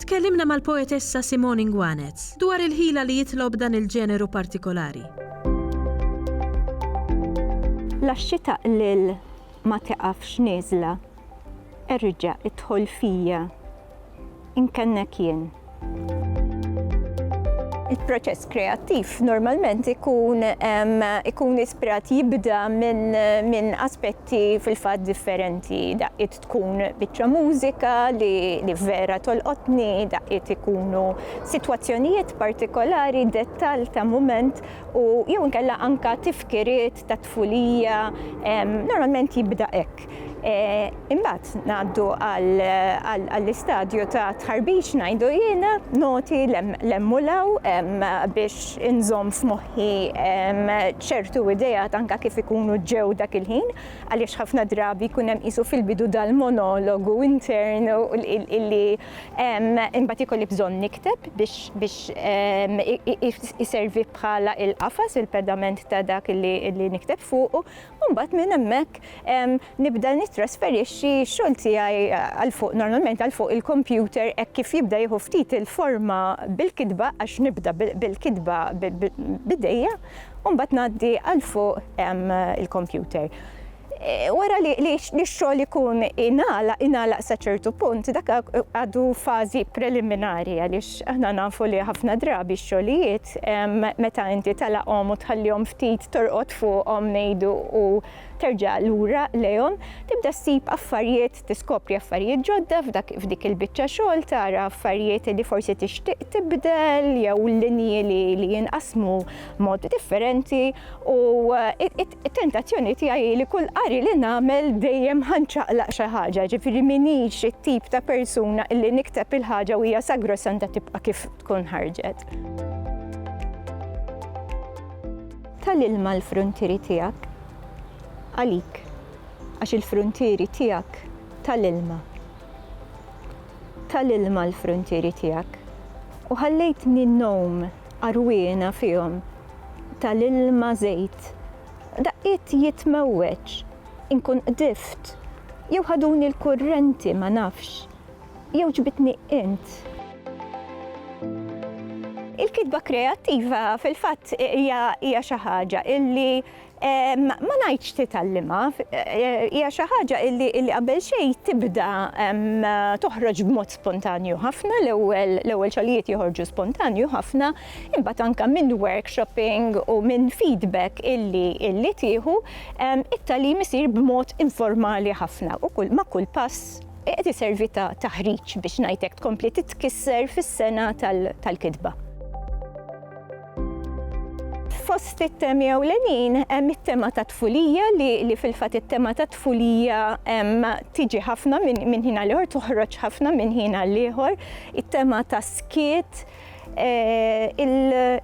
Tkellimna mal-poetessa Simone Nguanez dwar il-ħila li jitlob dan il-ġeneru partikolari. Laxxi taqlil ma tiqafx nieżla, erġa' idħol fija, inkennek jien. Il-proċess kreattiv normalment ikun ikun ispirat jibda minn aspetti fil-fatt differenti, daqqiet Tkun biċċa mużika li vera tolqotni, daqqiet ikunu sitwazzjonijiet partikolari, dettall ta' mument u jew inkella anke tifkiriet tat-tfulija, normalment jibda hekk. Imbagħad ngħaddu għall-istadju ta' tħarbiċ ngħidu jiena, noti 'l hemm u 'l hawn biex inżomm f'moħħi ċertu ideat anke kif ikunu ġew dak il-ħin. għaliex ħafna drabi jkun hemm qisu fil-bidu dal-monologu intern illi imbagħad ikolli bżonn nikteb biex ehm, iservi bħala il-qafas, il-pedament ta' dak illi nikteb fuqu, u mbagħad minn hemmhekk ehm, nibda nittrasferixxi x-xogħol tiegħi għal fuq normalment għal fuq il-kompjuter hekk kif jibda jieħu ftit il-forma bil-kitba għax nibda bil-kitba bidejja. u mbagħad ngħaddi għal fuq il-kompjuter. Wara li x-xogħol ikun ingħalaq, ingħalaq sa ċertu punt, dak għadu fażi preliminari għaliex aħna nafu li ħafna drabi x-xogħlijiet meta inti talaqhom u tħallihom ftit torqod fuqhom ngħidu u terġa' lura lejhom, tibda ssib affarijiet tiskopri affarijiet ġodda f'dik il-biċċa xogħol, tara affarijiet li forsi tixtieq tibdel jew linji li jinqasmu mod differenti u it-tentazzjoni tiegħi li kull qari li nagħmel dejjem ħanċaqlaq xi ħaġa, ġifieri minix it-tip ta' persuna illi nikteb il-ħaġa u hija sagrosanta tibqa' kif tkun ħarġet. Tal-ilma l-fruntieri tiegħek għalik. Għax il-fruntieri tiegħek ta' l-ilma. Ta' l-ilma l-fruntieri tiegħek. U ħallejtni ngħum għarwiena fihom ta' l-ilma żejt. Daqqiet jitmewweġ, inkun qdift, jew ħaduni l-kurrenti ma nafx, jew ġbidtni int. Il-kitba kreattiva fil-fatt hija xi ħaġa illi Ma ngħidx titgħallimha, hija xi ħaġa illi qabel xejn tibda toħroġ b'mod spontanju ħafna, l-ewwel l-ewwel xogħlijiet joħorġu spontanju ħafna, imbagħad anke minn workshopping u minn feedback illi illi tieħu, it-tagħlim isir b'mod informali ħafna u kull ma' kull pass qed iservi ta' taħriġ biex ngħid hekk tkompli titkisser fis-sengħa tal-kitba. Fost it-temi ewlenin hemm it-tema ta' tfulija li, li fil-fatt it-tema ta' tfulija tiġi ħafna minn ħin għal ieħor, toħroġ ħafna minn ħin għal ieħor, it-tema ta' skiet, eh,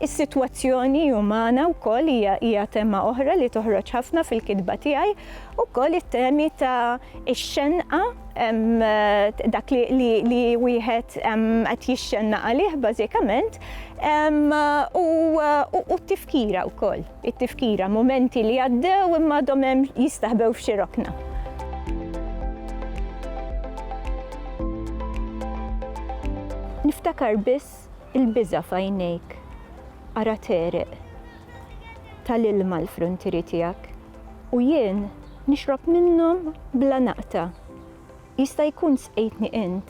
is-sitwazzjoni umana wkoll hija hija tema oħra li toħroġ ħafna fil-kitba tiegħi, ukoll it-temi ta' ix-xenqa dak li wieħed qed jixxenna għalih bażikament U t-tifkira wkoll, it-tifkira, mumenti li għaddew imma għadhom hemm jistaħbew f'xi rokna. Niftakar biss il-biża' f'għajnejk, ara tegħreq, tal-ilma l-fruntieri tiegħek, u jien nixrob minnhom bla naqta'. Jista' jkun sqejtni int,